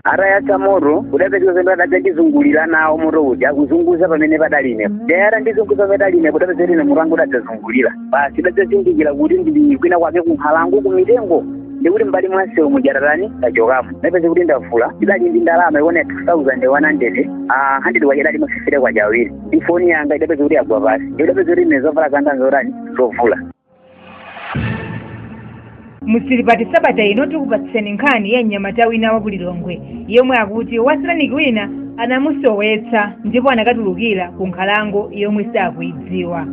atayatsa moto kudapeza kuti zomwe adadzandizungulira nawo moto uja akuzunguza pamene padali ine nde atandizunguza pamene padali ine kudapeza kuti ine mutu wanga udadzazungulira basi udadzazindikira kuti ndili kwina kwake kunkhalango kumitengo ndikuti mbali mwa msewu muja tatani tachokamo napeza kuti ndavula idali ndi ndalama yokwana 2100 ah, 100 kwacha idali ma fifite kwacha awiri ndi foni yanga idapeza kuti yagwa pansi ndikudapeza kuti ine zovala zanga nzotani zovula mu zilipati sabata ino tikupatseni nkhani ya mnyamata wina wa kulilongwe yomwe akuti wasataniki wina anamusowetsa ndipo anakatulukira ku nkhalango yomwe sakuidziwa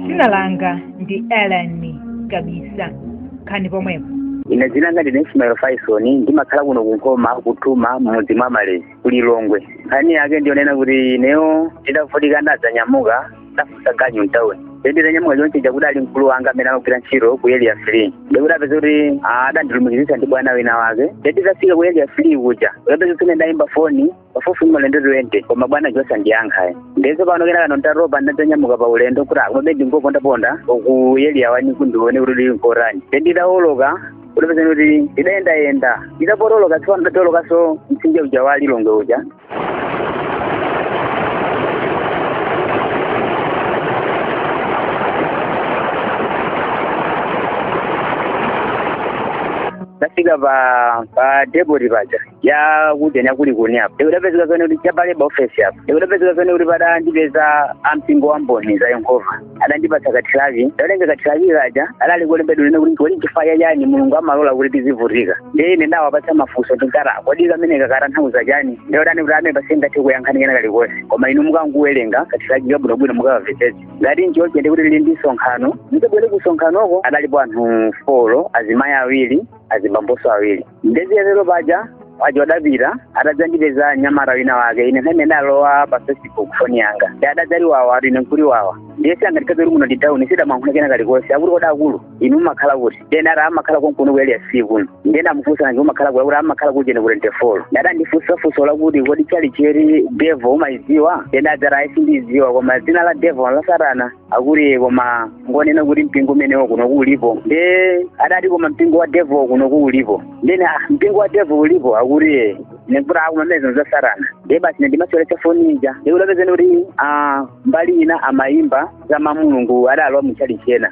dzina langa ndi elani kabisa nkhani pomwepo ine dzina langa ndine ismael faison ndimakhala kuno kunkhoma kuthuma m'mudzi mwa malezi kulilongwe nkhani yake ndiyonena kuti ineyo ndidavutika ndadzanyamuka ndafunsa ganyu mtauni nde nditanyamuka chonchi chakuti ali mkulu wanga amene amagwira ntchito ku area three ndikudapeza kuti adandilumikizitsa ndi bwana wina wake nde nditafika ku area three kuja kudapeza kuti ndayimba foni pafupi maulendo twente koma bwanayo osandiyankha ayi nde tsopano kena kano ntatopa ndatanyamuka pa ulendo kuti ah komabe ndingopondaponda ku area wani kuti ndione kuti kuli nkotani nde nditawoloka kudapezeka kuti ndidayendayenda ndidapotoloka tsopano ndawolokanso mtsinje uja wa lilongwe uja ndafika pa depoti paja ya kujeni ya kulikuni apo ndikudapezeka zonena kuti cha pa leba ofesi apo ndikudapezeka zonena kuti padandipeza ampingo wa mboni za yehova adandipatsa kathiraki ndatenga kathiraki kaja kadali kolembedwa lina kuti kodi chifukwa cha chani mulungu amalola kuti tizivutika ndiye ine ndawapatsa mafunso ndinkati kodi kameneka katanthauza chani ndiye adanena kuti pamenepa sindingathe kuyankhani kena kalikonse koma inu mukangowerenga kathirakika bwinobwino mukakamvetsetse ngati nchoncho nde kuti kuli ndi msonkhano muzabwere ku msonkhanoko adalipo anthu folo azimayi awiri azibamboso awiri nde zitatero paja awo adapita adadzandipeza mnyamata wina wake ine nthawi imene ndalowa pa facebook foni yanga ndi adadzati wawa ati ine nkuti wawa ndiye siyangatikapita kuti muno ndi town sindamulankhula kena kalikonse akuti kodi akulu inu mumakhala kuti nde ine ati ah ndimakhala konkuno ku area three kuno ndiye ndamufunsa nanga inu mumakhala kuti akuti amakhala kujeni ku 24 nde adandifunsa funso lakuti kodi tchalitchi ya devo umaidziwa nde ndadzati ayi sindiidziwa koma dzina la devo la satana akuti ee koma ngonena kuti mpingo umenewo kunoko ulipo nde adati koma mpingo wa devil kunoko ulipo nde ine ah, mpingo wa devil ulipo akuti ee ine nkuti akumameza za satana nde basi ine ndimaseweretsa foni ija ndikudapezeka kuti ah, mbali ina amayimba za mamulungu adalowa mu tchalitchi ina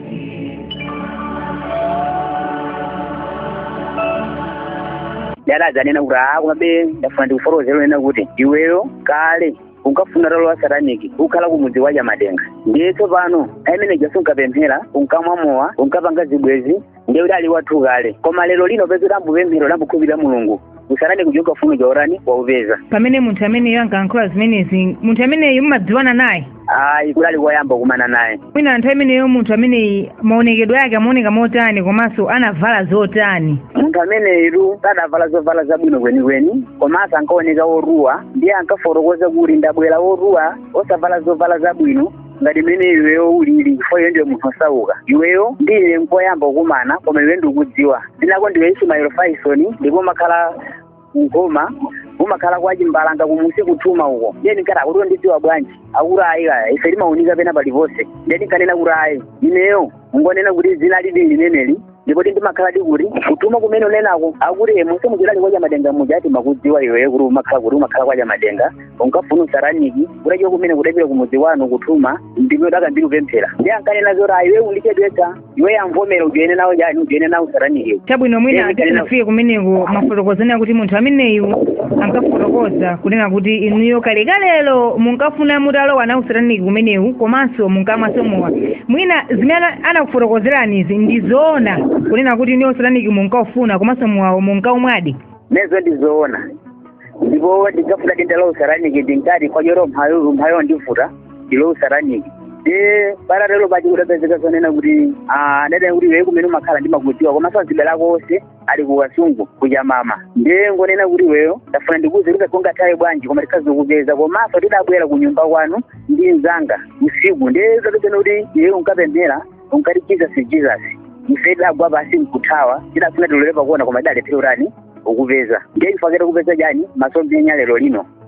ndiye adadzanena kuti aa komabe ndafuna ndikufotokozere kunena kuti iweyo kale unkafuna utalowa sataniki ukukhala ku mudzi kwa chamadenga ndiye tsopano pamene paja sunkapemphera unkamwa mowa unkapanga zibwezi ndiye kuti udali wathu kale koma lero lino peza udayamba kupemphera udayamba kukhulupirira mulungu usatani kuchoka ufuna chotani ukupeza pamene munthu ameneyo ankalankhula zimenezi munthu ameneyo mumadziwana naye ayi kudali koyamba kumana naye mwina nthawi imeneyo munthu ameneyi maonekedwe ake amaoneka motani komanso anavala zotani munthu ameneyu sadavala zovala zabwino kwenikweni komanso ankaoneka wotuwa ndiye ankafotokoza kuti ndabwera wotuwa osavala zovala zabwino ngati mmene iweyo ulili chifukwa iwe ndiwe munthu osauka iweyo ndi ine nkoyamba kukumana koma iwe ndikudziwa dzina lako ndiwe ismail faison ndipo umakhala ku nkhoma umakhala kwa chimbalanga kumusi ku thuma uko ndiye ndinkati akuti wandidziwa bwanji akuti ayi kaya ife timaunika pena paliponse ndiye ndinkanena kuti ayi ineyo ngonena kuti dzinali ndi limeneli ndipodi ndimakhaladi kuti ku thuma kumene unenako akuti musemu muchidali kwa chamadenga muja timakudziwa iweyo kuti umakhala kuti umakhala kwa chamadenga unkafuna usataniki utachoka kumeneko udapita kumudzi kwanu ku thuma ndi mmene udakayambira kupemphera ndiye ankanena zoti ayi iwe undichedwetsa iweyo vomera ujoine nawo chani ujoine nawo usataniki chabwino mwina tisanafike kumeneko mwafotokoza kunena kuti munthu ameneyu ankafotokoza kunena kuti inuyo kalekalelo munkafuna mutalowa nawo usataniki umenewu komanso munkamwaso mowa mwina zimene ana- anakufotokozerani izi ndi zoona kunena kuti inuyo usataniki munkaufuna komanso mowawo munkaumwadi zimenezo ndizoona ndipo ndinkafunadi nditalowa usataniki ndinkati chifukwa cha umphawiwu ndifuna ndilowe usataniki nde patatero basi kudapezeka zonena kuti ah, ndadani kuti iwe kumene umakhala ndimakudziwa komanso azibale ako onse ali ku kasungu ku chamama ndiye ngonena kuti iweyo ndafuna ndikuuze kuti kaya ungathawe bwanji koma tikhoza kukupeza komanso tidabwera ku nyumba kwanu ndi mzanga usiku ndiye tidapeza kuti iwe unkapemphera unkati jesus jesus ife tidagwa pasi nkuthawa tidafuna tilole pakuona koma tidalephera utani ukupeza ndiye chifukwa chake takupeza chani masomphenya lero lino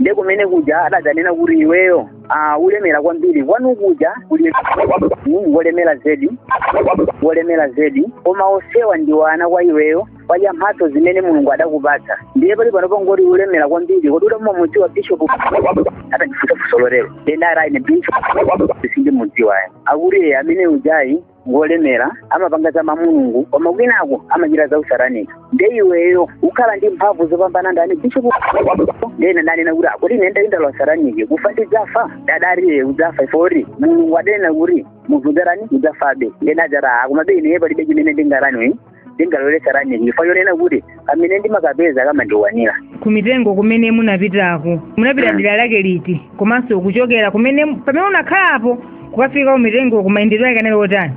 nde kumene kuja adadzanena kuti iweyo ah, ulemera kwambiri kwanu kuja kuli mm, wolemera zedi wolemera zedi koma osewa ndi ana kwa iweyo chifukwa cha mphatso zimene mulungu adakupatsa ndiye pali pano pangoti ulemera kwambiri kodi udamumva umudziwa bishopu atandifusa fuso lotero nde ndati ine bishopu sindimudziwa ayi akuti iye amene ujayi ngolemera amapanga za mau a mulungu koma kwinako amachita za usataniki nde iweyo ukhala ndi mphamvu zopambana ndani bishopu nde ine ndinanena kuti akuti ine ndati ndalowa usataniki kufa ndidzafa nde adati udzafa chifukwa choti mulungu adanena kuti munthu udzatani udzafabe nde ndidadzati aa komabe ineyo palibe chimene ndingatani ndingalowe sataniki chifukwa chonena kuti kamene ndimakapeza kamandikwanira kumitengo kumene munapitako munapita Mm. dera lake liti komanso kuchokera kumene pamene unakhalapo kukafika kumitengoko mayendedwe ake anali otani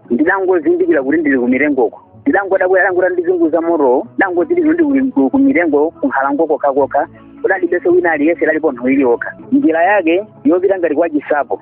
ndidangozindikira kuti ndili kumitengoko ndidangodabwa adangotani ndizunguza motowo ndidangozindikira kuti ndili ku- kumitengo kunkhalango kokhakokha kudalibenso wina aliyense lalipo nthu iliyokha njira yake yopita ngati kwa chinsapo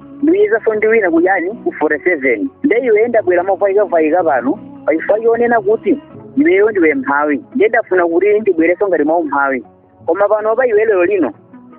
ndiyizanso ndi wina kuyani ku 47 nde iwe ndabwera mofayikafayika pano pachifukwa chonena kuti iweyo ndiwe mphawi nde ndafuna kuti ndibwerenso ngati mwa umphawi koma pano pa iwe lero lino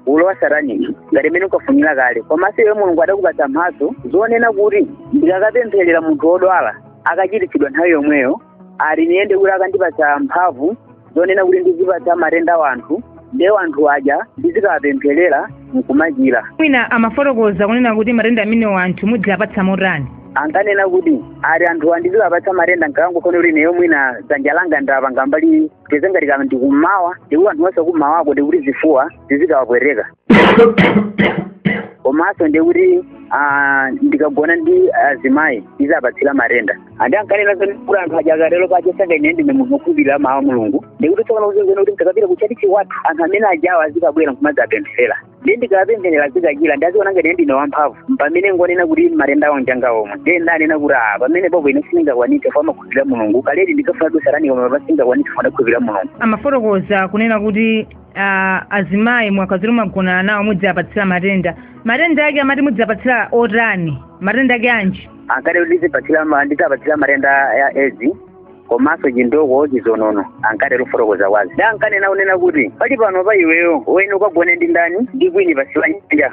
ulowa sataniki ngati mmene unkafunira kale komanso iwe mulungu adakupatsa mphatso zonena kuti ndikakapempherera munthu wodwala akachiritsidwa nthawi yomweyo ati ndiye nde kuti akandipatsa mphamvu zonena kuti ndizipatsa matenda wanthu nde wanthu aja ndizikawapempherera nkumachira mwina amafotokoza kunena kuti matenda amenewo anthu mudziwapatsa motani ankanena kuti ati anthuwa ndizikapatsa matenda nkakangofuna kuti neyo mwina dzanja langa ndapanga mbali teze ngati kaya ndi kummawa nde kuti anthu onse kummawako nde kuti zifuwa zizikawapweteka komanso ndiye kuti ah, ndikagona ndi azimayi ndizawapatsira matenda a ndiye ankanena zonena kuti anthu aja akatero pache sanga ine ndine munthu wokhulupirira mawu a mulungu nde kuti tsopano kuzingwene kuti ndikapita kutchalitchi kwathu anthu amene ajawo azikabwera nkumadzi apempherera ndi ndikapempherera azikachira nde aziona ngati ine ndine wamphamvu pamene ngonena kuti matendawo njanga omwe ndiye ndanena kuti ah pamenepopo ine sindingakwanitse chifukwa ndimakhulupirira mulungu kaledi ndinkafuna usataniki koma sindingakwanitse chifukwa ndakhulupirira mulungu amafotokoza kunena kuti ah, azimayi mwakaziro magonana nawo mudziapatsira matenda matenda ake amati mudziapatsira otani matenda ake anji ankati kuti tipatsira ma- ndizapatsira matenda ya edzi komanso chindoko chizonono ankati lufotokoza kwazi da ankanena kunena kuti pali pano pa iweyo uyenera ukagone ndi ndani ndi kwini pansi pa nyanja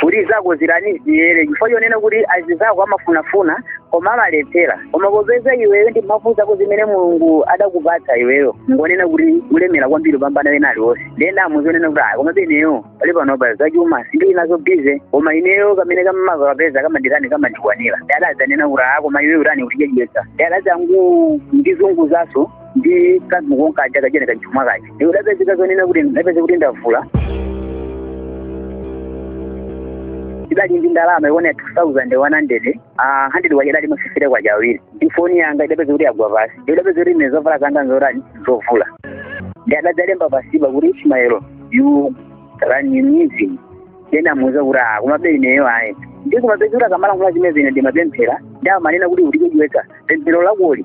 kuti zako zitani ziyere chifukwa chonena kuti azinzako amafunafuna koma amalephera koma popeza iweyo ndi mphamvu zako zimene mulungu adakupatsa iweyo ngonena kuti ulemera kwambiri kupambana wena aliwonse nde ndamuuza zonena kuti a koma pa ineyo pali panopa zachuma sindili nazo busy koma ineyo kamene ndimakapeza kamanditani kamandikwanira nde adadzanena kuti aa koma iweyo utani ukutichedwetsa nde adadzangondizunguzanso ndi kanthu konkaja kajeni kachuma kaja nde kudapezeka zonena kuti ndapeza kuti ndavula ndidali ndi ndalama yokwana 2100 Ah, 100 uja adali ma 50 kwacha awiri ndi foni yanga idapezeka kuti yagwa pansi idapezeka kuti ine zovala zanga nzotani zovula nde adadzalemba pansipa kuti ismaelo yu raninizi nde ndamuuza kuti ah komabe ineyo ayi nde kumapezeka kuti akamalankhula zimenezi ine ndimapemphera nde amanena kuti ukutichedwetsa pemphero lakoli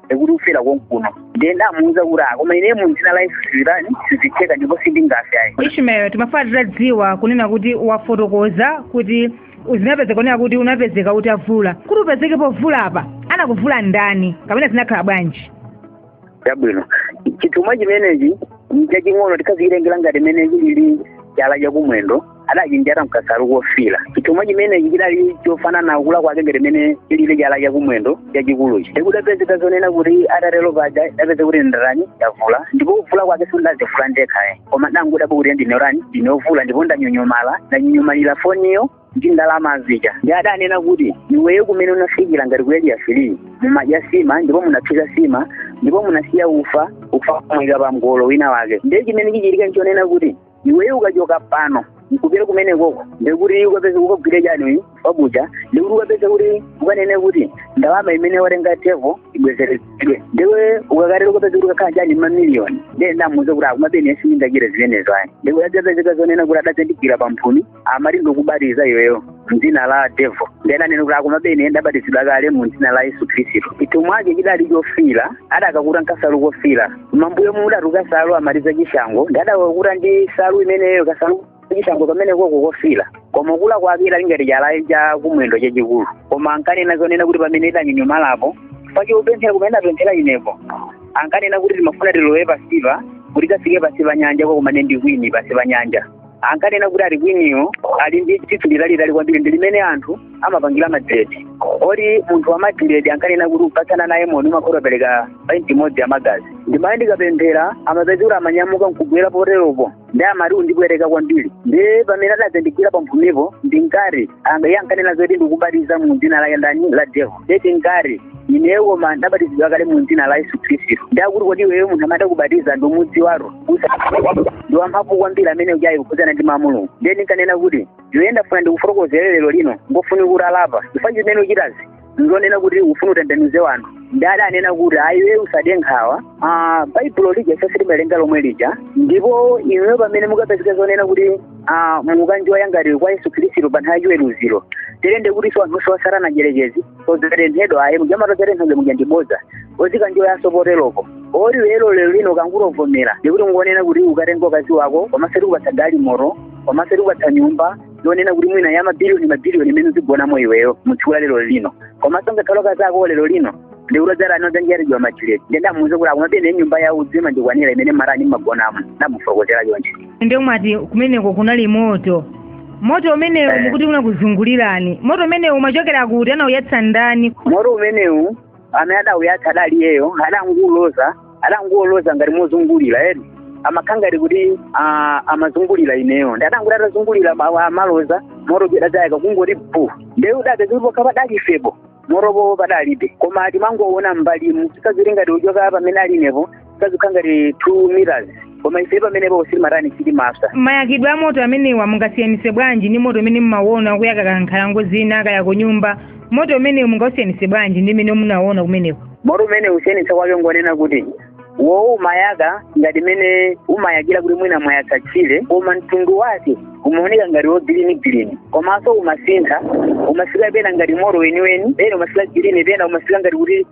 ekuti ufera konkuno ndiye ndamuuza kuti ah koma ine mu dzina la yesu zitani sizitheka ndipo sindingafe ayi ishmael timafuna titadziwa kunena kuti wafotokoza kuti zinapezeka kunena kuti unapezeka utavula kuti upezeke povula apa anakuvula ndani kapena zinakhala bwanji chabwino chithumwa chimenechi nchaching'ono tikaziyirengera ngati mmene chilili chala chakumwendo adachinjata mkasalu kofira chithumwa chimenechi chidali chofanana kukula kwake ngati mmene chilili chala chakumwendo chachikuluchi nde kudapezeka zonena kuti atatero paja ndidapeza kuti ndatani ndavula ndipo kuvula kwake sindazivula ndekha ayi koma ndangodabwa kuti ndinotani ndinovula ndipo ndanyonyomala ndanyonyomalira foniyo ndi ndalama zija ndiye adanena kuti iweyo kumene unafikira ngati ku area three mumadya sima ndipo munaphika sima ndipo munasiya ufa ufa kumwika pa mgolo wina wake ndiye chimene chichitika nchonena kuti iweyo ukachoka pano nkupita kumenekoko ndekuti ukapeza ukagwire chani ufa uja ndekuti ukapeza kuti ukanene kuti ndalama imene watenga devo ibwezeretsedwe nde iwe ukakatero ukapeza kuti ukakhala chani mamiliyoni ndiye ndamuuza kuti ah komabe ine sindingachite zimenezo ayi ndekuti adapezeka zonena kuti adadzandigwira pamphumi amati ndikubatiza iweyo mdzina la devo nde ndinanena kuti ah komabe ine ndabatizidwa kale mu mdzina la yesu khristu chithumwa chake chidali chofira adakakuta nkasalu kofira mambuyo mudatu kasalu amati za chishango nde adakakuta ndi salu imeneyo kasalu chishango kamene koko kofira koma kukula kwake kadali ngati chala cha kumwendo chachikulu koma ankanena zonena kuti pamene ndidanyonyomalapo pachiupemphera kumene apemphera inepo ankanena kuti timafuna tilowe pasipa kuti tikafike pasi pa nyanja ukakumane ndi kwini pasi pa nyanja ankanena kuti ati kwiniyo ali ndi tsitsi litalitali kwambiri ndi limene anthu amapangira madredi oti munthu wa madredi ankanena kuti ukapatsana naye moni umakhala utapereka painti imodzi ya magazi ndimaye ndikapemphera amapezeka kuti amanyamuka nkugwera poteropo nde amati undipweteka kwambiri ndi pamene adadzandigwira pamphumipo ndinkati iye ankanena zoti ndikubatiza mu dzina la ndani la devo nde ndinkati ine koma ndabatizidwa kale mu dzina la yesu khristu nde akuti kodi iweyo munthu amene adakubatiza ndikumudziwatu ndi wamphamvu kwambiri amene uja kukhudzana ndi mau a mulungu ndiye ndinkanena kuti iweyo ndafuna ndikufotokozere lero lino ungofunika utalapa chifukwa chimene uchitazi ndizonena kuti ufuna utembenuze wanthu nde adanena kuti ayi iwe usade nkhawa ah, baibulo lija ifeso timawerenga lomwe lija ndipo inuyo pamene mukapezeka zonena kuti ah, mukanjoya ngati kwa yesu khristu pa nthawi yachiweruziro tilende kuti so anthu onse a satana mdyerekezi adzatenthedwa ayi muja amati adzatenthedwa muja ndi bodza azikanjoyaso poteropo moti lero lero lino ukangovomera ndikuti ngonena kuti ukatenga mkazi wako komanso tikupatsa galimoto komanso tikupatsa nyumba yonena kuti mwina ya mabiliyoni mabiliyoni imene uzigonamo iweyo mutsiku la lero lino komanso ngakhale akazi ako lero lino ndikulodzera anozanjiyatijiwa machileti nde ndamuuza kuti ah komabe ine nyumba ya udzu imandikwanira imene mmatani mmagonamo ndamufotokozera choncho ndiye umati kumeneko kunali moto moto umenewu Eh. ndikuti unakuzungulirani moto umenewu umachokera kuti anawuyatsa ndani moto umenewu amene adawuyatsa adali iyeyo adangouloza adangouloza ngati mozungulira eni amakhala ngati kuti ah, amazungulira ineyo ndiye adangoti atazungulira ma- amaloza moto uja adadzayaka kungoti bu ndiye udapeza kuti pokha padali ifepo motopo padalibe koma timangowona mbalimu tikaziti ngati uchoka pamene ali inepo kazikhala ngati two meters koma ife pamenepo sitimatani sitimapsa mayakidwe a moto amenewa mungasiyanise bwanji ndi moto umene mumawona kuyaka kankhalango zina kaya ku nyumba moto umenewu mungausiyanise bwanji ndi mmene munawona kumeneko moto umene kusiyanitsa kwake ngonena kuti wowo umayaka ngati mmene umayakira kuti mwina mwayatsa tchire koma mtundu wake umaoneka ngati wogirini girini komanso umasintha umafika pena ngati moto weniweni pena umafika girini pena umafika ngati kuti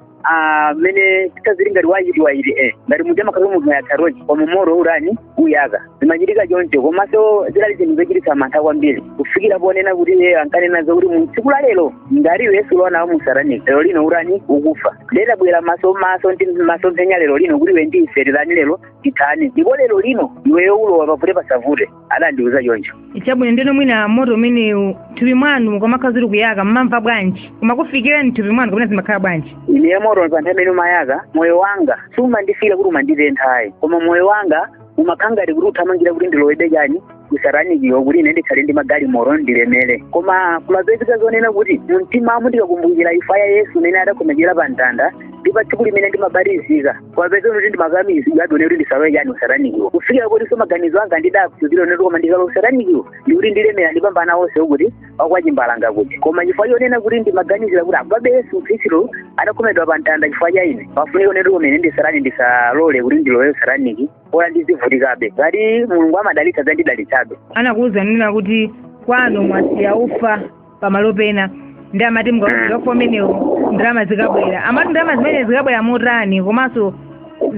mmene tikaziti ngati wayiti wayiti eh ngati muja amakhala munthu wayatsa tochi koma moto utani uyaka zimachitika choncho komanso zidali zinthu zochititsa mantha kwambiri kufikira ponena kuti iye ankanena zakuti mu tsiku la lero ngati iwe sulowa nawo musatanic lero lino utani ukufa ndidabwera maso maso- ndi masomphenya lero lino kuti iwe ndi ife tirani lero tithani ndipo lero lino iweyo ulowa pavute pasavute adandiuza choncho chabwino ndiye mwina moto umenewu thupi mwanu ukamakhala uziti ukuyaka mmamva bwanji umakufikira mthupi mwanu kapena zimakhala bwanji ine moto pa nthawi imene umayaka moyo wanga sumandifikira kuti umanditentha ayi koma moyo wanga umakhala ngati kuti uthamangira kuti ndilowebe chani kusatanikiwo kuti ine ndikhale ndi magalimoto ndilemere koma kumapezeka zonena kuti mumtimamu ndikakumbukira imfa ya yesu imene adakhomekera pa mtanda ndi pa tsiku limene ndimabatizika kumapezeka kuti ndimakakamizidwa ponena kuti ndisalowe chani usatanikiwo kufikira kotinso maganizo anga ndidakuuzira ponena kuti koma ndikalowa usatanikiwo ndikuti ndilemera ndipambana onse kuti wakwachimbalanga kuti koma chifukwa chonena kuti ndimaganizira kuti ah komabe yesu khristu adakhomedwa pa mtanda chifukwa cha ine pafunika ponena kuti kumene ndisatani ndisalole kuti ndilowe usataniki bola ndizivutikabe ngati mulungu amadalitsa adzandidalitsabe anakuwuza kunena kuti kwanu mwasiya ufa pamalo pena ndiye amati mukapeza ufa umenewo ndalama zikabwera amati ndalama zimene zikabwera motani komanso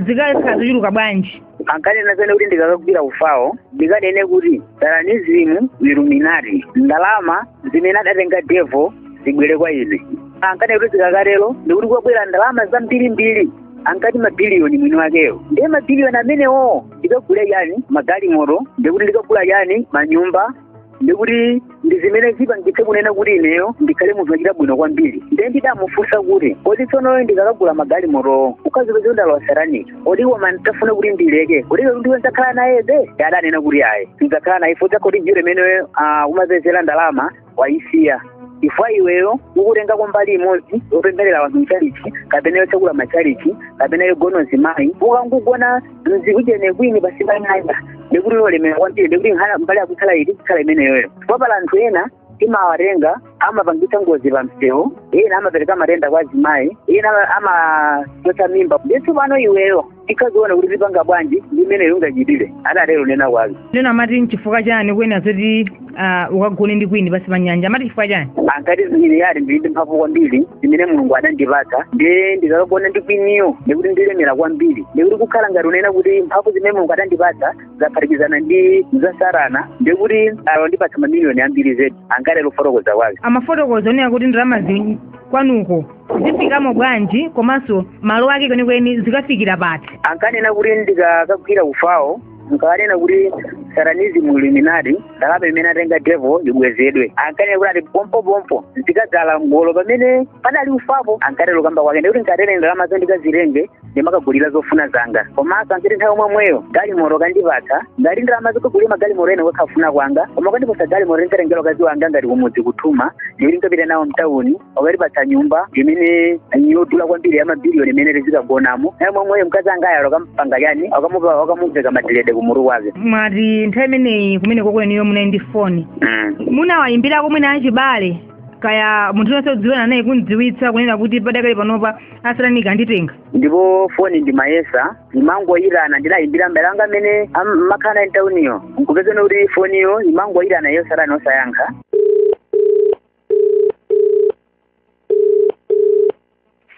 zikakhala zochuluka bwanji ankanena zonena kuti ndikakagwira ufawo ndikanene kuti satanizimu iluminati ndalama zimene adatenga devo zibwere kwa ine ankanena kuti zikakatero ndikuti kwabwera ndalama zambirimbiri ankati mabiliyoni mwini wakeyo ndiye mabiliyoni amenewo ndikagula chani magalimoto ndikuti ndikagula chani manyumba ndikuti ndi zimene zipangitse kunena kuti ineyo ndikhale munthu wachita bwino kwambiri ndiye ndidamufunsa kuti kodi tsono ndikakagula magalimotowo nkuzipeza ndalowa sataniki kodi koma nditafuna kuti ndileke kodi ndiye ndidzakhala nayebe adanena kuti ayi sudzakhala naye chifukwa chakuti njira imene ah, umapezera ndalama wayisiya chifukwa iweyo ukutengako mbali imodzi yopempherera wanthu mchalichi kapena yotsegula machalichi kapena yogona azimayi ukangogona mzikujene kwini pasi pa nyanja ndikuti lolemera kwambiri ndikuti nkhana mbali yakukhala ili kukhala imeneyoyo popala anthu ena timawatenga amapangitsa ngozi pa msewu ena amapereka matenda kwa azimayi ena amachotsa mimba ndithu pano iweyo tikaziona kuti tipanga bwanji ndi imeneyo ungachitire adatero kunena kwake ndiyeno amati nchifukwa chani kunena zoti ah, ukagone ndi kwini pasi pa nyanja amati chifukwa chani ankati ine ati ndili ndi mphamvu kwambiri zimene mulungu adandipatsa ndiye ndikakagona ndi kwiniyo ndikuti ndilemera kwambiri ndikuti kukhala ngati unena kuti mphamvu zimene mulungu adandipatsa zaphatikizana ndi za satana ndikuti alondipatsa mamiliyoni ambiri zedi ankatero kufotokoza kwake amafotokoza zonena kuti ndalamazi kwanuko zifikamo bwanji komanso malo ake kwenikweni zikafikira pati ankanena kuti ndikakagwira ufawo nkanena kuti satanism illuminati ndalama imene atenga devil ibwezedwe ankanena kuti ati pompopompo zikadzala mgolo pamene padali ufapo ankatero kukamba kwake ndikuti nkatenge ndalamazo ndikazitenge ndimakagulira zofuna zanga komanso ankati nthawi yomweyo galimoto akandipatsa ngati ndalama zokagulira magalimoto ena kwa kufuna kwanga koma akandipatsa galimoto ndikatengera mkazi wanga ngati kumudzi ku Thuma ndikuti nkapita nawo mtawuni akatipatsa nyumba imene yodula kwambiri ya mabiliyoni imene tizikagonamo naye mwamweyo mkazi wangayo akampanga chani akamupa akamuveka madiredi kumutu kwake mwati nthawi imeneyi kumeneko inuyo munali ndi foni Mm. munawayimbirako mwina achibale kaya munthu yense odziwana naye kumdziwitsa kunena kuti padakali panopa asatanika anditenga ndipo foni ndimayesa imangoyitana ndidayimbira mbale wanga amene mmakhala naye mtauniyo nkupezana kuti foniyo imangoyitana yosatani osayankha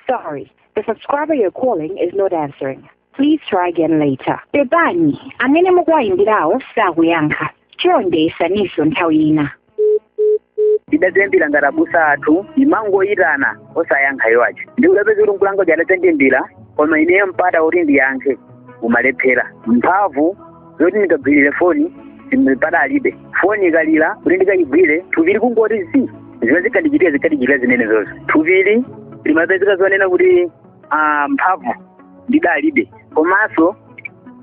Sorry, the subscriber you're calling is not answering. Please try again later. Pepani, amene mukuwayimbirawo sakuyankha. Chonde yesaninso nthawi ina. ndidadzayimbira ngati abusa athu imangoyitana osayankha iwo aja ndikudzapeza kuti mkulu wanga uja adadzandiyimbira koma ineyo mpata kuti ndiyankhe ndimalephera mphamvu zoti ndikagwirire foni sim- padalibe foni ikalira kuti ndikayigwire thupili kungoti zi zimene zikandichitira zikandichitira zimenezozo thupili limapezeka zonena kuti ah, mphamvu ndidalibe komanso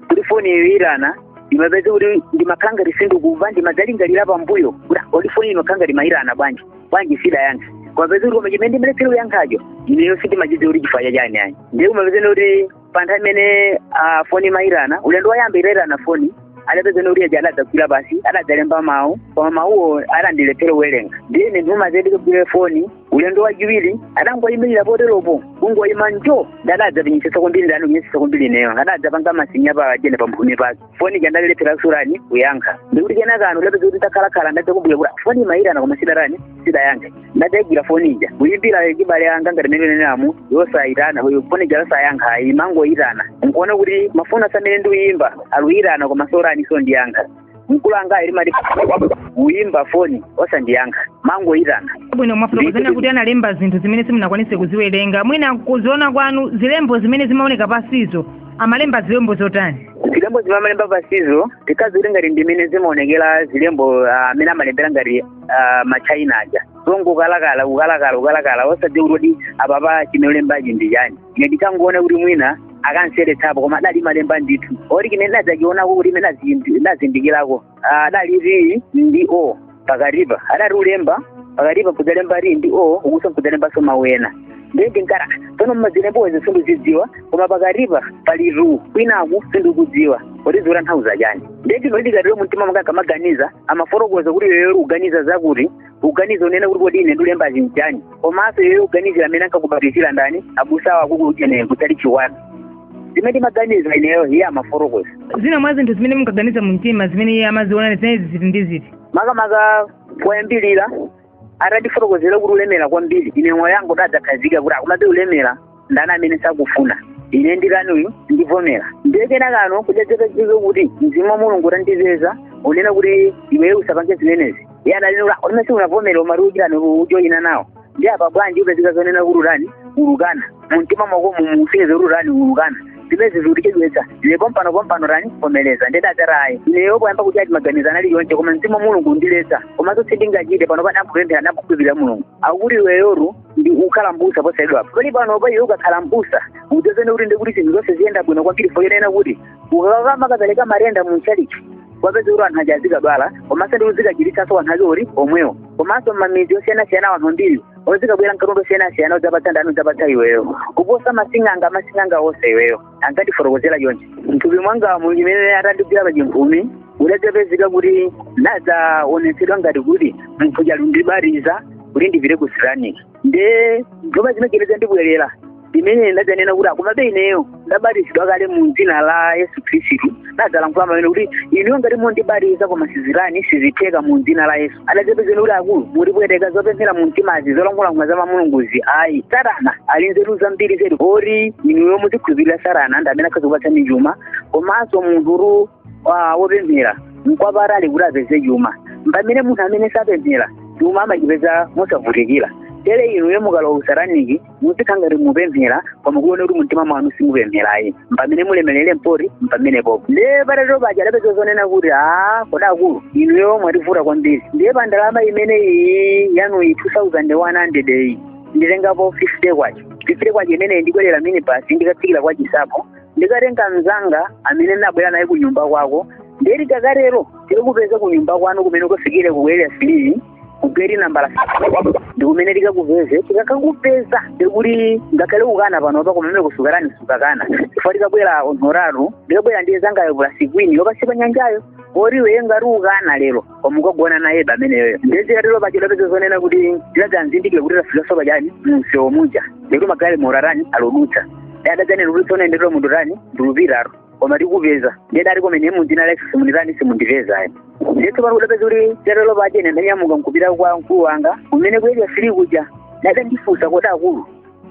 kuti foni ikuyitana imapezeka kuti ndimakhala ngati sindikuva ndimadzalingalira pambuyo kuti ah, kodi foni imakhala ngati imayitana bwanji bwanji sindidayankha kumapezeka kuti koma chimene ndimaletsera kuyankhacho ineyo sindimachidziwa kuti chifukwa chachani ayi ndiye kumapezeni kuti pa nthawi imene ah, foni imayitana ulendo woyamba itayitana foni adapezana kuti uja adadzagwira pasi adadzalemba mawu koma mawuwo adandilephera kuwerenga ndiye ine ndimati ndikagwire foni ulendo wachiwiri adangoyimirira poteropo kungoyima njo adadzapenyetsetsa kwambiri atandipenyetsetsa kwambiri ineyo adadzapanga masinya paujeni pa mphumi pake foni ija ndalilephera surani kuyankha ndikuti kenaka ano ndapeza kuti takhalakhala ndadzakumbuka kuti foni imayitana koma sindidatani sindidayankha ndidayigwira foni ija kuyimbira chibale wanga ngati mene nanenamu yosayitana foni ija yosayankha ayi imangoyitana nkuona kuti mafoni aja amene ndikuyimba aluyitana koma sorani so ndiyankha mkulu anga ali mali kuyimba foni osandiyankha mangoyitana bwino mwafotokozanu kuti analemba zinthu zimene simunakwanise kuziwerenga mwina kuziona kwanu zilembo zimene zimaoneka pasizo amalemba zilembo zotani zilembo zimene amalemba pasizo ndikadziwa kuti ngati ndimene zimaonekera zilembo ah, amene amalembera ngati ah, machaina aja zongokalakala ukalakala ukalakala osadziwa kuti kuti apapa chimene alembachi ndi chani ine ndikangoona kuti mwina akanseretsapo koma adali malemba ndithu oti chimene ndadzachionako kuti imene nazindikirako adali ti ndi o pakatipa adali kulemba pakatipa nkudzalemba ti ndi o ukuso nkudzalembanso mawu ena ndiye ndinkati tsono mmazilembozi sindizidziwa koma pakatipa pali tu kwinaku sindikudziwa kuti zikutanthauza chani ndiye chino ndikatero mumtima mwanga ndikamaganiza amafotokoza kuti iyoyo uganiza zakuti uganiza unena kuti kodi ine andilemba zinjani komanso iweyo uganizira amene ankakubatizira ndani abusa wako kunena kutali chiwani zimene ndimaganiza ineyo iye amafotokoza zina mwa zinthu zimene munkaganiza mu mtima zimene iye amaziona zinazi ziti ndi ziti makamaka poyambirira atandifotokozera kuti ulemera kwambiri ine moyo wangu unadzakhazikika kuti akumabe ulemera ndani amene sakufuna ine ndirani ine ndivomera ndiye kenakano kudadzapezeka kuti mzimu wa mulungu utandipeza unena kuti iweyo usapange zimenezi iye analinura umese unavomera umati utani ujoyina nawo ndi apa bwanji upezeka zonena kuti utani ulukana mumtima mwako mumusiyeze kuti utani ulukana zimenezi zikutichedwetsa ine pompano pompano tani vomereza ndidadzati ayi ineyo poyamba kuti ati maganizo analipo onse koma mzimu wa mulungu undiletsa komanso sindingachite pano popanda kupemphera nakukhulupirira mulungu akuti iweyotu ndi kukhala mbusa posalidwa poli pano paiwe ukakhala mbusa udzaone kuti ndikuti zinthu zonse ziyenda bwino kwambiri zonena kuti ukakamakapereka matenda mu tchalitchi upeze kuti anthu aja azikadwala komanso ndiwe uzikachiritsanso anthu ake ali omwewo komanso mmamidzi osiyanasiyana anthu ambiri azikabwera nkatundu wosiyanasiyana kudzapatsa ndani kudzapatsa iweyo kuposa masing'anga masing'anga onse iweyo ankandifotokozera chonchi mthupi mwangamu mmene atandigwira pa chimphumi kudadzapezeka kuti ndadzaonetsedwa ngati kuti munthu uja alundibatiza kuti ndipite ku sirani nde ndoma zimegereza ndibwerere ndimene ndadzanena kuti akumabe ineyo ndabatizidwa kale mu dzina la yesu khristu ndadzalankhula pamene kuti inuyo ngati mundibatiza koma sizitani sizitheka mu dzina la yesu adadzapezeka kuti akulu mutipweteka zopemphera mu mtimazi zolankhulankula za mulunguzi ayi satana ali nzeru zambiri zedi oti inuyo muzikhulupirira satana ndi amene akhoza kukupatsani chuma komanso munthu ah, wopemphera nkwapatali kuti apeze chuma pamene munthu amene sapemphera chuma amachipeza mosavutikira tere inuyo mukalowa kusataniki muzikhala ngati mupemphera koma kuona kuti mumtima mwanu simupempherayi mpamene mulemerere mpoti mpamenepo ndiye patatero paja adapeza zonena kuti a kodi akulu inuyo mwativuta kwambiri ndiye pa ndalama imene iyi yanuyi 2100 iyi nditengapo 50 kwacha 50 kwacha imeneyi ndikwerera minibus ndikatsikira kwa chinsapo ndikatenga mzanga amene ndinabwera naye ku nyumba kwako nde tikakatero tikakupeza ku nyumba kwanu kumene ukafikire ku area three ku geti nambala ndi kumene tikakupeze tikakakupeza ndikuti ngakhale ukana panopa koma kumeneko sukatani sukakana chifukwa tikabwera anthu atatu ndikabwera ndi mzangayo pulasi kwini wa pansi pa nyanjayo oti iwe ngati ukana lero koma ukagona naye ameneyoyo nde zitatero paja adapeza zonena kuti tidadzazindikira kuti tafika so pa chani mumsewu muja ndikuti magalimoto atani alodutsa adadzanena kuti tsonaenderera munthu tani ndilupitatu koma tikupeza ndiye ndati koma ine mu dzina la yesu simunditani simundipezayi ndiye tsopano kudapeza kuti patatero paja ine ndanyamuka nkupita kwa mkulu wanga kumene ku area three kuja nde adandifunsa kodi akulu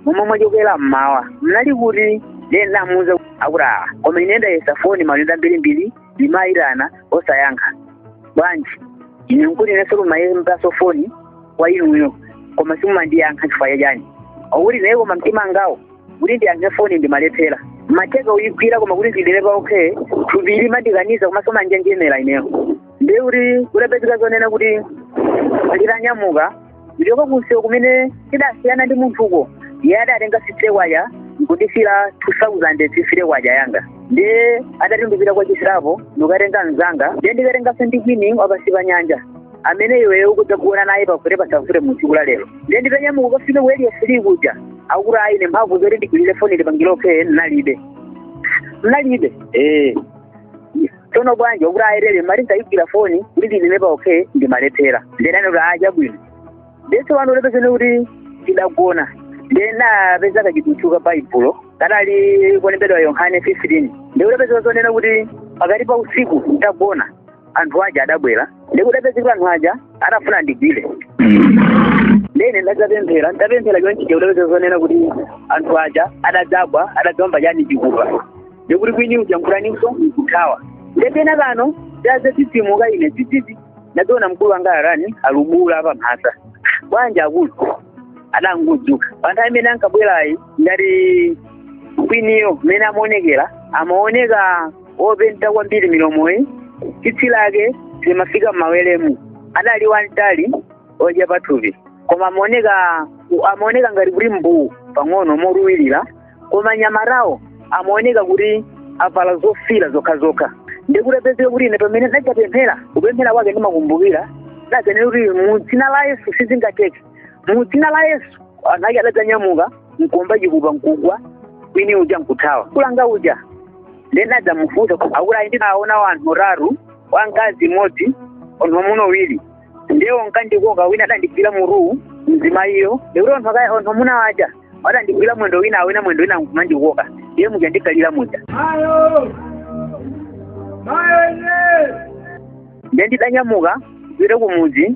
momwe mwachokera mmawa mnali kuti ndiye ndamuuza akuti awa koma ine ndayesa foni maulendo mbirimbiri ndimayitana osayankha bwanji ine nkuti inenso kumayimbaso foni kwa inuyo koma simumandiyankha chifukwa chachani akuti ayi koma mtima wangawu kuti ndiyankhe foni ndimalephera ndimatha kuyigwira koma kuti ndidine pa okay thupi limandikaniza komanso manjenjemera ineyo ndiye kuti kudapezeka zonena kuti nditanyamuka ndichoka kunsewu kumene tidasiyana ndi munthuko iye adatenga fifty kwacha nkundisiyira two thousand fifty kwacha yanga ndiye adati ndipita kwa chinsapo ndikatenga mzanga ndiye ndikatenganso ndi kwini wa pansi pa nyanja amene iweyo ukudzagona naye pafute pasafute mu tsiku la lero ndiye nditanyamuka kukafika ku area three kuja akuti ayi ine mphamvu zoti ndigwirire foni ndipangire okay nalibe nalibe eh tsono bwanji okuti ayerere mali ndayigwira foni kuti ndidine pa okay ndimalephera ndenani kuti a chabwino nde tsopano kudapezeka kuti ndidagona ndinapeza kachidutswa ka baibulo kadali kolembedwa yohane 15 nde kudapeza zonena kuti pakati pa usiku ndagona anthu aja adabwera nde kudapezeka anthu aja atafuna andigwire nde ine ndadzapemphera ndapemphera chonchi nde kudapeza zonena kuti anthu aja adadzagwa adadzawomba chani chikupa ndikuti kwini uja nkutaninso nkuthawa nde penapano ndadzadzidzimuka ine dzidzidzi ndadzaona mkulu wanga atani alubuula apa mphasa bwanji akulu adangodzuka pa nthawi imene ankabwerayi ngati kwiniyo mmene amaonekera amaoneka wopenta kwambiri milomoyi tsitsi lake limafika m'maweremu adali wamtali ochepa thupi koma amaoneka amaoneka ngati kuti mbuwu pang'ono motuwirira koma anyamatawo amaoneka kuti avala zofira zokhazokha nde kudapezeka kuti ine pamene ndadzapemphera kupemphera kwake ndimakumbukira ndadzanena kuti mu dzina la yesu sizingatheke mu dzina la yesu anthu ake adadzanyamuka nkuomba chikupa mkugwa kwini uja nkuthawa kulanga uja nde ndinadzamufunsa akuti ayi ndinaona wanthu atatu wamkazi mmodzi anthu amuna awiri nde wonkandikoka wina adandigwira mutuwu mzimayiyo ndikuti anthu akaya anthu amuna waja adandigwira mwendo wina awina mwendo wina nkumandikoka iye muja ndikalira muja Mayo! Mayo ine! nde ndidanyamuka kupita kumudzi